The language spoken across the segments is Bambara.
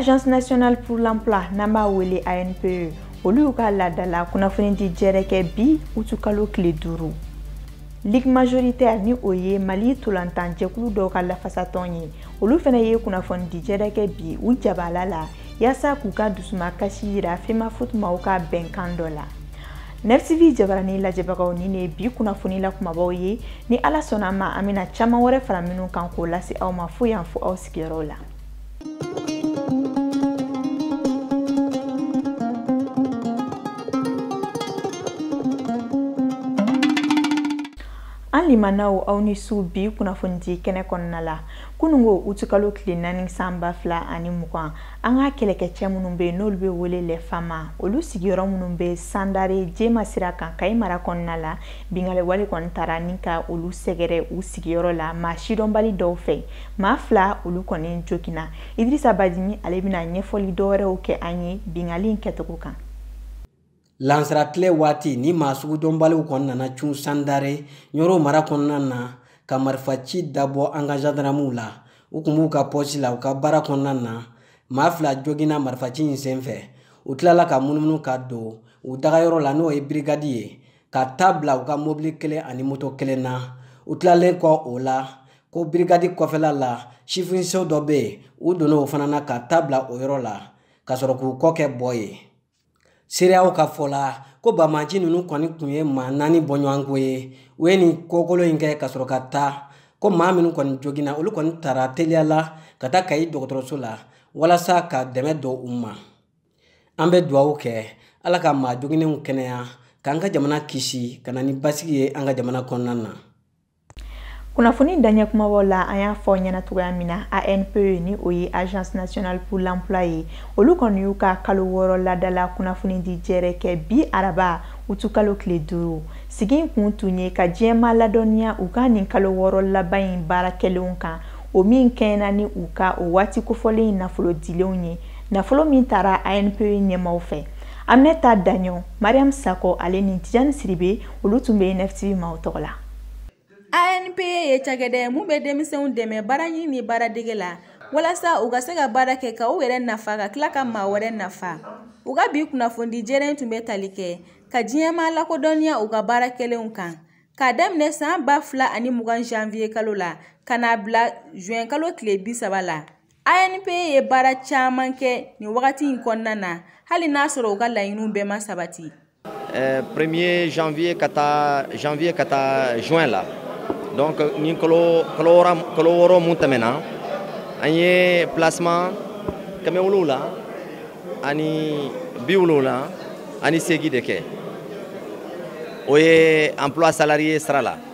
agence nationale pour l'emploi n'an b'a wele ANPE olu y'u ka laadala kunnafonidi jɛrɛ kɛ bi utukalo tile duuru Ligue majoritaire ni o ye Mali tolantan jɛkulu dɔw ka lafasatɔn ye olu fana ye kunnafonidi jɛrɛ kɛ bi u jabala la yaasa k'u ka dusuma kasi yira FEMAFOOT maaw ka bɛnkan dɔ la NFTV jabarani lajɛbagaw nin ye bi kunnafoni la kumabaw ye ni ala sɔnna a ma an bɛna caman wɛrɛ fara minnu kan k'o lase aw ma fo yan fo aw sigiyɔrɔ la an limanaw aw ni su bi kunnafonidi kɛnɛ kɔnɔna la kunungo utukalo tile naani san ba fila ani mugan an ka kɛlɛkɛcɛ minnu bɛ yen n'olu bɛ wele les FAMA olu sigiyɔrɔ minnu bɛ sandare jema sira kan kayi mara kɔnɔna la bingali wale kɔni taara ni ka olu sɛgɛrɛ u sigiyɔrɔ la maa sidɔnbali dɔw fɛ maa fila olu kɔni joginna idirisa badini ale bɛna ɲɛfɔli dɔwɛrɛw kɛ an ye bingali kɛcogo kan lansara tile waati ni maa sugudɔnbaliw kɔni nana cun sandare ɲɔro mara kɔnɔna na ka marifaci dabɔ an ka zandaramuw la u kun b'u ka pɔsi la u ka baara kɔnɔna na maa fila joginna marifaci in senfɛ u tilala ka munumunu ka don u dagayɔrɔ la n'o ye birigadi ye ka ta bila u ka mobili kelen ani moto kelen na u tilalen kɔ o la ko birigadi kɔfɛla la sifinso dɔ bɛ yen u donna o fana na ka ta bila o yɔrɔ la ka sɔrɔ k'u kɔ kɛ bɔ ye seereyaw ka fɔ la ko banbaanci ninnu kɔni tun ye maa naani bɔɲɔgɔnko ye u ye nin kokolon in kɛ ka sɔrɔ ka taa ko maa minnu kɔni joginna olu kɔni taara teliya la ka taa kayi dɔgɔtɔrɔso la walasa ka dɛmɛ don u ma an bɛ dugawu kɛ ala ka maa joginnenw kɛnɛya k'an ka jamana kisi ka na ni basigi ye an ka jamana kɔnɔna na kunnafoni daɲɛ kumabaw la an y'a fɔ ɲɛna cogoya min na ANPE ni o ye agence nationale pour l'emploi ye olu kɔni y'u ka kalo wɔɔrɔ ladala kunnafoni di jɛrɛ kɛ bi araba utukalo tile duuru sigi in kun tun ye ka diɲɛmaa ladɔnniya u ka nin kalo wɔɔrɔ laban in baara kɛlenw kan o min kɛɲɛna ni u ka o waati kofɔlen nafolo dilenw ye nafolo min taara ANPE ɲɛmaaw fɛ aminata daɲɔ mariam sakɔ ale ni tijani siribe olu tun bɛ NFTV maaw tɔgɔ la ANPE ye cakɛda ye min bɛ denmisɛnw dɛmɛ baaraɲini ni baaradege la walasa u ka se ka baara kɛ ka u yɛrɛ nafa ka tila ka maa wɛrɛ nafa u ka bi kunnafoni jɛrɛ in tun bɛ tali kɛ ka diɲɛmaa lakodɔnniya u ka baara kɛlenw kan k'a daminɛ san ba fila ani mugan janviye kalo la ka n'a bila juin kalo tile bi saba la ANPE ye baara caman kɛ nin wagati in kɔnɔna na hali n'a sɔrɔ u ka laɲiniw bɛɛ ma sabati. Eh, premier janvier ka taa juin la donc ni kalo wɔɔrɔ mun tɛmɛna an ye placement kɛmɛ wolonwula ani bi wolonwula ani seegin de kɛ o ye emploi salarié sira la.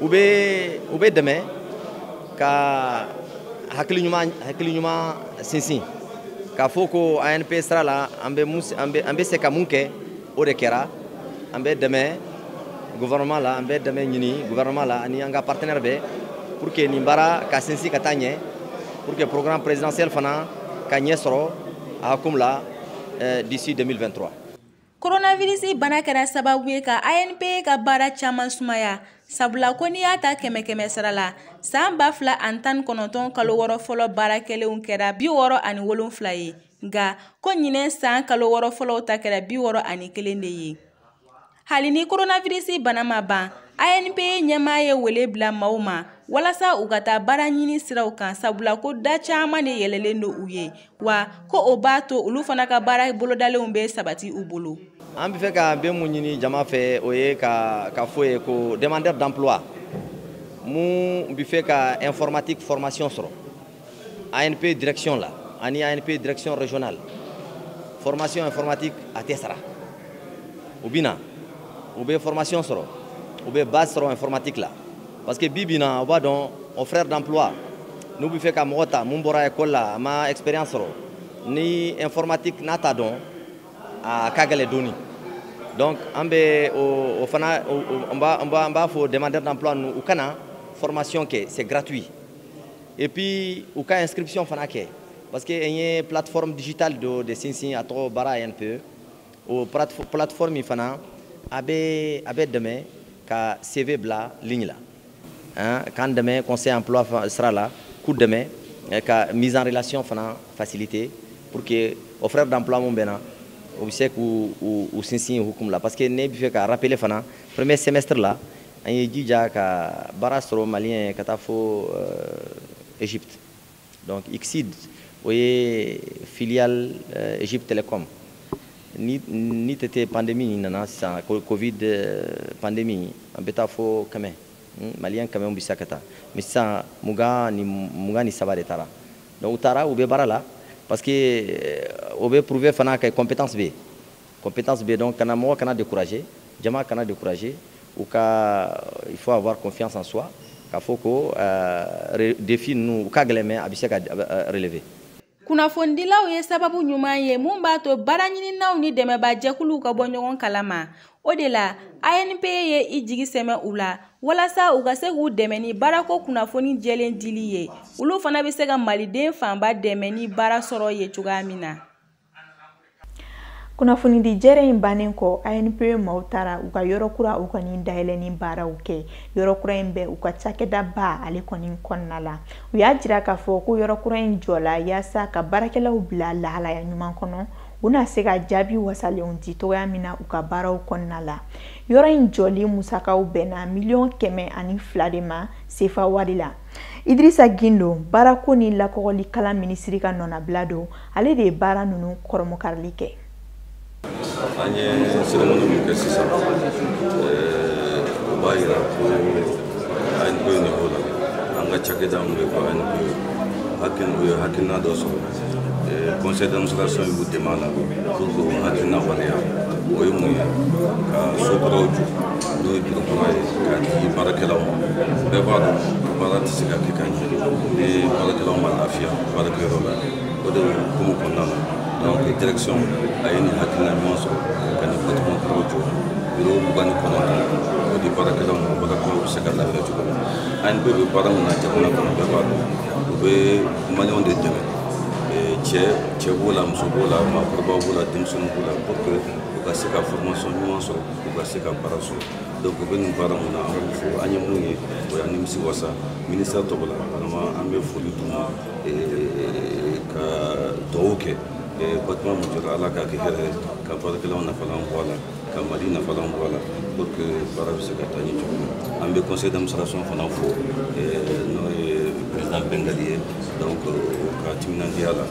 u bɛ u bɛ dɛmɛ ka hakili ɲuman sinsin k'a fɔ ko ANPE sira la an bɛ an bɛ se ka mun kɛ o de kɛra an bɛ dɛmɛ gouvernement la an bɛ dɛmɛ ɲini gouvernement la ani an ka partenaire bɛɛ pour que nin baara ka sinsin ka taa ɲɛ pour que programme présidentiel fana ka ɲɛ sɔrɔ a hukumu la d'ici 2023 Coronavirus bana kɛra sababu ye ka ANPE ka baara caman sumaya sabula ko n'i y'a ta kɛmɛ kɛmɛ sara la san ba fila ani tan ni kɔnɔntɔn kalo wɔɔrɔ fɔlɔ baara kɛlenw kɛra bi wɔɔrɔ ani wolonfila ye nka ko ɲinɛ san kalo wɔɔrɔ fɔlɔw ta kɛra bi wɔɔrɔ ani kelen de ye hali ni coronavirus bana ma ban ANPE ɲɛmaa ye wele bila maaw ma walasa u ka taa baara ɲini siraw kan sabula ko da caman de yɛlɛlen don u ye wa ko o b'a to olu fana ka baara bolodalenw bɛ sabati u bolo an bɛ fɛ ka fɛn mun ɲini jama fɛ o ye k'a fɔ u ye ko demandeur d'emploi mun bɛ fɛ ka informatique formation sɔrɔ ANPE direction la ani ANPE direction régionale formation informatique a tɛ sara u bɛ na u bɛ formation sɔrɔ u bɛ base sɔrɔ informatique la parce que bi bi na o b'a dɔn offreurs d'emploi n'u bɛ fɛ ka mɔgɔ ta mun bɔra école la a ma expérience sɔrɔ ni informatique n'a t'a dɔn a ka gɛlɛ dɔɔni donc an bɛ o o fana n b'a n b'a n b'a fɔ demandeur d'emploi ninnu u ka na formation kɛ c'est gratuit et puis u ka inscription fana kɛ parce que an ye plateforme digitale dɔ de sinsin a tɔgɔ Baara ANPE o plateforme fana a bɛ a bɛ dɛmɛ ka CV bila ligne la hein, k'an dɛmɛ conseil emploi sira la k'u dɛmɛ eh, ka mise en relation fana faciliter pour que offreurs d'emploi mun bɛ na o bɛ se k'u u sinsin hukumu la parce que ne bɛ fɛ ka rappeler fana premier semestre la an ye jija ka baara sɔrɔ maliyɛn ka taa fo euh, Egypte donc Xceed o ye filiale euh, Egypte Telecom ni ni tɛ tɛ pandémie in nana sisan covid euh, pandémie an bɛ taa fo kɛmɛ hmm, maliyɛn kɛmɛ bɛ se ka taa mais sisan mugan ni mugan ni saba de taara donc u taara u bɛ baara la parce que euh, o bɛ prouver fana que compétence bɛ yen compétence bɛ donc kana mɔgɔ kana décourager jama kana décourager u ka il faut avoir confiance en soi k'a fɔ ko euh, défi ninnu u ka gɛlɛn mais a bɛ se ka euh, relever kunnafonidilaw ye sababu ɲuman ye min b'a to baaraɲininaw ni dɛmɛba jɛkuluw ka bɔ ɲɔgɔn kalama o de la anpe ye i jigi sɛmɛ u la walasa u ka se k'u dɛmɛ ni baarako kunnafoni jɛlen dili ye olu fana bɛ se ka maliden fanba dɛmɛ ni baara sɔrɔ ye cogoya min na kunnafoni di jɛrɛ in bannen kɔ anpe maaw taara u ka yɔrɔ kura o kɔni dayɛlɛni baaraw kɛ yɔrɔ kura in bɛ u ka cakɛda ba ale kɔni kɔnɔna la u y'a jira k'a fɔ ko yɔrɔ kura in jɔla yaasa ka baarakɛlaw bila lahalaya ɲuman kɔnɔ u na se ka jaabi wasalenw di cogoya min na u ka baaraw kɔnɔna la yɔrɔ in jɔli musakaw bɛnna miliyɔn kɛmɛ ani fila de ma sefa wari la Idrissa Guindo, baarako ni lakɔgɔli kalan minisiri ka nɔnabila don, ale de ye baara ninnu kurunbonkarili kɛ. An ye cérémonie min kɛ sisan, o b'a jira ko ANPE niveau la, an ka cakɛda min bɛ ko ANPE, hakili u ye hakilina dɔ sɔrɔ. Conseil d'administration y'u dɛmɛ a la pour que o hakilina waleya o ye mun ye ka so kuraw jɔ n'o ye biro kura ye k'a di baarakɛlaw ma bɛɛ b'a dɔn baara tɛ se ka kɛ ka ɲɛ ni baarakɛlaw ma lafiya baarakɛyɔrɔ la o de hukumu kɔnɔna na donc direction a ye nin hakilina ɲuman sɔrɔ ka nin bâtiment kuraw jɔ biro mugan ni kɔnɔntɔn o di baarakɛlaw ma baarakɛlaw bɛ se ka lafiya cogo min na ANPE bɛ baara min na jamana kɔnɔ bɛɛ b'a dɔn u bɛ Maliyɛnw de dɛmɛ eh, cɛ cɛ b'o la muso b'o la maakɔrɔbaw b'o la denmisɛnninw b'o la pour que u ka se ka formation ɲuman sɔrɔ u ka se ka baara sɔrɔ donc u bɛ nin baara mun na an b'u fo an ye mun ye o y'an nimisi wasa ministère tɔgɔ la vraiment an bɛ foli d'u ma eh, ka dugawu kɛ eh, bâtiment mun jɔra ala k'a kɛ hɛrɛ ye ka baarakɛlaw nafalan bɔ a la ka mali nafalan bɔ a la pour que baara bɛ se ka taa ɲɛ cogo min na an bɛ conseil d'administration fana fo n'o ye président bengaly ye donc o ka timinandiya la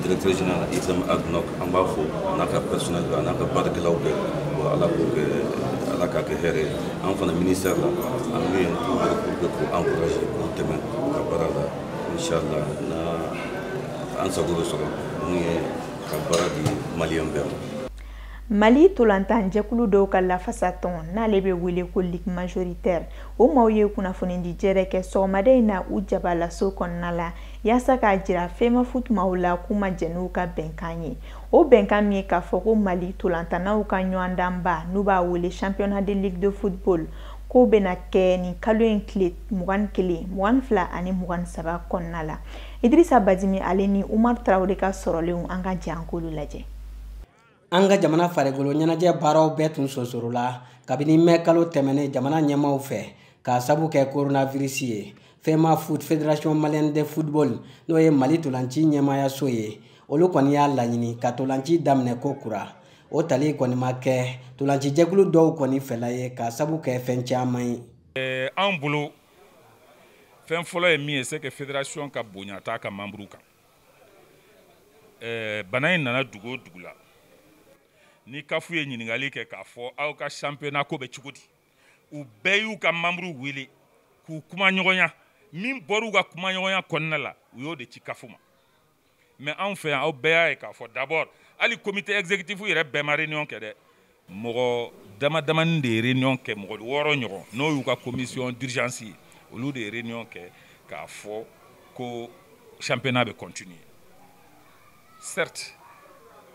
directeur général ibrahim ag nock an b'a fo a n'a ka personnel bɛɛ a n'a ka baarakɛlaw bɛɛ bon ala k'o kɛ ala k'a kɛ hɛrɛ ye an fana ministère la an bɛ yen pour que k'u encourager k'u dɛmɛ u ka baara la inchallah na an sago bɛ sɔrɔ mun ye ka baara di maliyɛn bɛɛ ma Mali ntolatan jɛkulu dɔw ka lafasa tɔn n'ale bɛ wele ko Ligue majoritaire o maaw ye kunnafonidi jɛrɛ kɛ sɔgɔmada in na u jabalaso kɔnɔna la yaasa k'a jira FEMAFOOT maaw la k'u ma jɛn n'u ka bɛnkan ye o bɛnkan min ye k'a fɔ ko Mali ntolatannaw ka ɲɔgɔndanba n'u b'a wele championnat de ligue de football k'o bɛna kɛ nin kalo in tile mugan ni kelen mugan ni fila ani mugan ni saba kɔnɔna la Idirisa Badimi ale ni Umaru Tarawele ka sɔrɔlenw an ka jɛ an k'olu lajɛ. an ka jamana farikolo ɲɛnajɛ baaraw bɛɛ tun sonsorola kabini mɛ kalo tɛmɛnen jamana ɲɛmaaw fɛ k'a sabu kɛ coronavirus ye FEMAFOOT fédération malienne de football n'o ye mali tolanci ɲɛmaayaso ye olu kɔni y'a laɲini ka tolanci daminɛ ko kura o tali kɔni ma kɛ tolanci jɛkulu dɔw kɔni fɛla ye k'a sabu kɛ fɛn caman ye eh, an bolo fɛn fɔlɔ ye min ye c'est que fédération ka bonya t'a ka membre kan eh, bana in nana dugu o dugu la ni CAF ye ɲininkali kɛ k'a fɔ aw ka championnat ko bɛ cogo di u bɛɛ y'u ka membre wele k'u kuma ɲɔgɔnya min bɔr'u ka kuma ɲɔgɔnya kɔnɔna la u y'o de ci CAF ma mais anw fɛ yan aw bɛɛ y'a ye k'a fɔ d'abord hali comité exécutif yɛrɛ bɛɛ ma réunion kɛ dɛ mɔgɔ damadamanin de ye réunion kɛ mɔgɔ wɔɔrɔ ɲɔgɔn n'o y'u ka commission d'urgence ye olu de ye réunion kɛ k'a fɔ ko championnat bɛ continuer certes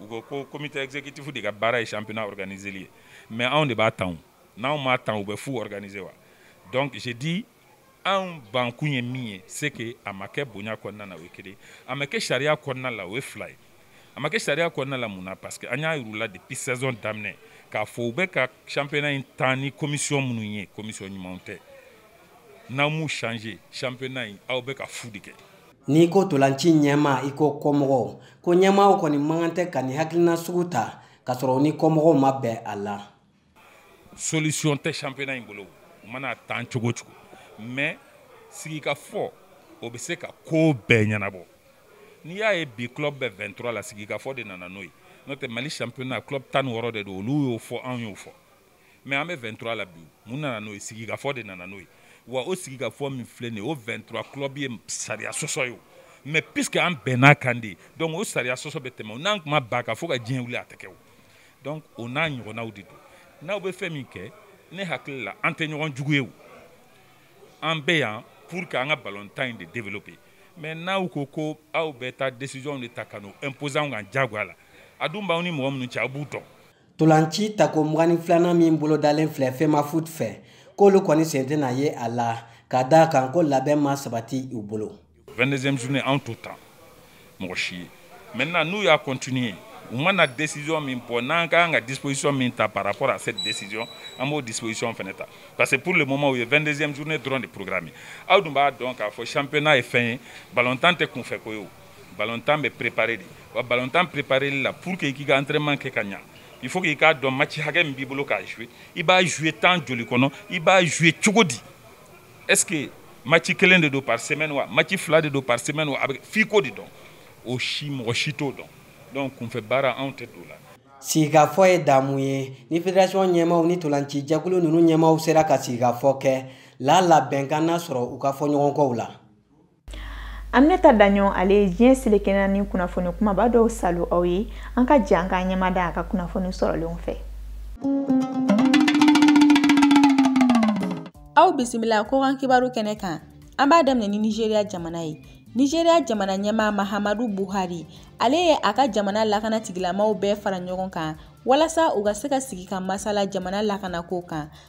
u ko ko comité exécutif de ka baara ye championnat organiseli ye mais anw de b'a tan n'anw m'a tan u bɛ fu organiser wa donc j'ai dit anw bankun ye min ye c'est que a ma kɛ bonya kɔnɔna na o ye kelen a ma kɛ sariya kɔnɔna la o ye fila ye a ma kɛ sariya kɔnɔna la mun na parce que an y'a yir'u la depuis saison daminɛ k'a fɔ u bɛ ka championnat in tan ni commission minnu ye commission ɲumanw tɛ n'aw m'u changer championnat in aw bɛ ka fu de kɛ n'i ko tolanci ɲɛmaa i ko kɔmɔgɔw ko ɲɛmaaw kɔni man kan tɛ ka nin hakilina sugu ta k'a sɔrɔ u ni kɔmɔgɔw ma bɛn a la solution tɛ championnat in bolo u mana tan cogo cogo mais sigikafɔ o bɛ se ka ko bɛɛ ɲɛnabɔ n'i y'a ye bi club bɛ 23 la sigikafɔ de nana n'o ye n'o tɛ mali championnat club tan ni wɔɔrɔ de don olu y'o fɔ anw y'o fɔ mais an bɛ 23 la bi mun nana n'o ye sigikafɔ de nana n'o ye wa o sigikafɔ min filɛ nin ye o 23 club ye sariya sɔsɔ ye o mais puisque an bɛnn'a kan de donc o sariya sɔsɔ bɛ tɛmɛ o n'an tun ma bɛn a kan fo ka diɲɛ wuli a tɛ kɛ o donc o n'a ɲɔgɔnnaw de don n'aw bɛ fɛn min kɛ ne hakili la an tɛ ɲɔgɔn jugu ye o an bɛ yan pour que an ka balontan in de développer mais n'aw ko ko aw bɛ taa décision de ta ka n'o imposer anw kan diyagoya la a dun b'aw ni mɔgɔ minnu cɛ aw b'u dɔn Ntolanci tako mugan ni filanan min bolodalen filɛ FEMAFOOT fɛ, k'olu kɔni sen tɛna ye a la, ka d'a kan ko labɛn ma sabati u bolo. 22e journée an t'o tan mɔgɔ si ye maintenant n'u y'a continuer u mana décision min bɔ n'an ka kan ka disposition min ta par rapport à cette décision an b'o disposition fɛnɛ ta parce que pour le moment u ye 22e journée dɔrɔn de programmer aw dun b'a dɔn k'a fɔ championnat ye fɛn ye balontan tɛ kunfɛ ko ye o balontan bɛ préparer de wa balontan prépareli la pour que i k'i ka entraînement kɛ ka ɲa il faut que i k'a dɔn match hakɛ min b'i bolo k'a jouer i b'a jouer temps joli kɔnɔ i b'a jouer cogo di est ce que match kelen de don par semaine wa match fila de don par semaine wa a bɛ fɛ k'o de dɔn o si mɔgɔ si t'o dɔn donc kunfɛ baara anw tɛ don o la sigikafɔ ye damu ye ni federasiyɔn ɲɛmaaw ni ntolaci jɛkulu ninnu ɲɛmaaw sera ka sigikafɔ kɛ lala bɛnkan na sɔrɔ u ka fɔɲɔgɔnkɔw la Aminata Daɲɔn ale ye diɲɛ seleke naani kunnafoni kumaba dɔw saalo aw ye an ka jɛ k'an ɲɛmada a ka kunnafoni sɔrɔlenw fɛ aw bisimila kɔkan kibaru kɛnɛ kan an b'a daminɛ ni nizeriya jamana ye nizeriya jamana ɲɛmaa mahamadu buhari ale ye a ka jamana lakanatigilamaw bɛɛ fara ɲɔgɔn kan walasa u ka se ka sigi ka masala jamana lakanako kan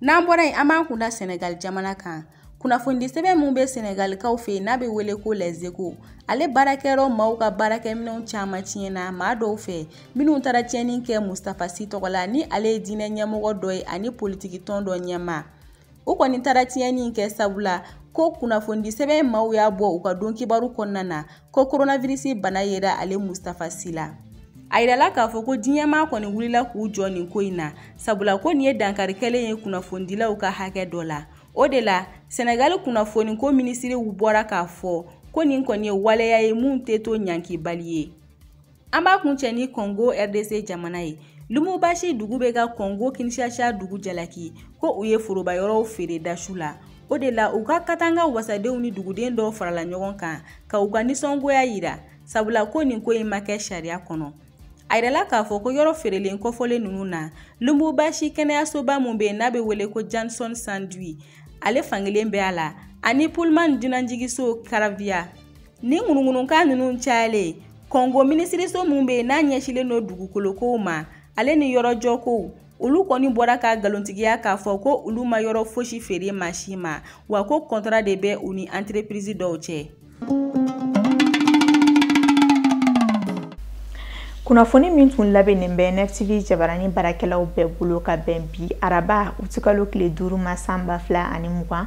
N'an bɔra yen an b'an kun da Senegal jamana kan. Kunnafonidi sɛbɛn min bɛ Senegalikaw fɛ yen n'a bɛ wele ko Les Echos, ale baarakɛyɔrɔ maaw ka baarakɛminɛnw caman tiɲɛna maa dɔw fɛ minnu taara tiɲɛni kɛ Mustafa Sy tɔgɔ la ni ale ye diinɛ ɲɛmɔgɔ dɔ ye ani politikitɔn dɔ ɲɛmaa. U kɔni taara tiɲɛni in kɛ sabula ko kunnafonidi sɛbɛn maaw y'a bɔ u ka don kibaru kɔnɔna na ko koronavirisi bana yera ale mustafa si la a yirala k'a fɔ ko diɲɛmaa kɔni wulila k'u jɔ nin ko in na sabula ko nin ye dankari kɛlen ye kunnafonidilaw ka hakɛ dɔ la o de la sɛnɛgali kunnafoniko minisiriw bɔra k'a fɔ ko nin kɔni ye waleya ye min tɛ to ɲankibali ye An b'a kuncɛ ni kɔngo rdc jamana ye lubumbashi dugu bɛ ka kɔngo kinshasa dugu jalaki ko u ye foroba yɔrɔw feere da su la o de la u ka katanga wasadenw ni duguden dɔw farala ɲɔgɔn kan ka u ka nisɔngoya yira sabula ko nin ko in ma kɛ sariya kɔnɔ a yirala k'a fɔ ko yɔrɔ feerelen kofɔlen ninnu na lubumbashi kɛnɛyasoba min bɛ yen n'a bɛ wele ko jason sendwe ale fan kelen bɛ a la ani pullman dunanjigiso karavia ni ŋunuŋunukan ninnu cayalen kɔngo minisiriso minnu bɛ yen n'a ɲɛsilen don dugukolokow ma ale ni yɔrɔjɔkow olu kɔni bɔra k'a nkalontigiya k'a fɔ ko olu ma yɔrɔ fosi feere maa si ma wa ko kɔntara de bɛ u ni anterepirizi dɔw cɛ kunnafoni min tun labɛnnen bɛ nftv jabarani baarakɛlaw bɛɛ bolo ka bɛn bi araba utikalo tile duuru ma san ba fila ani mugan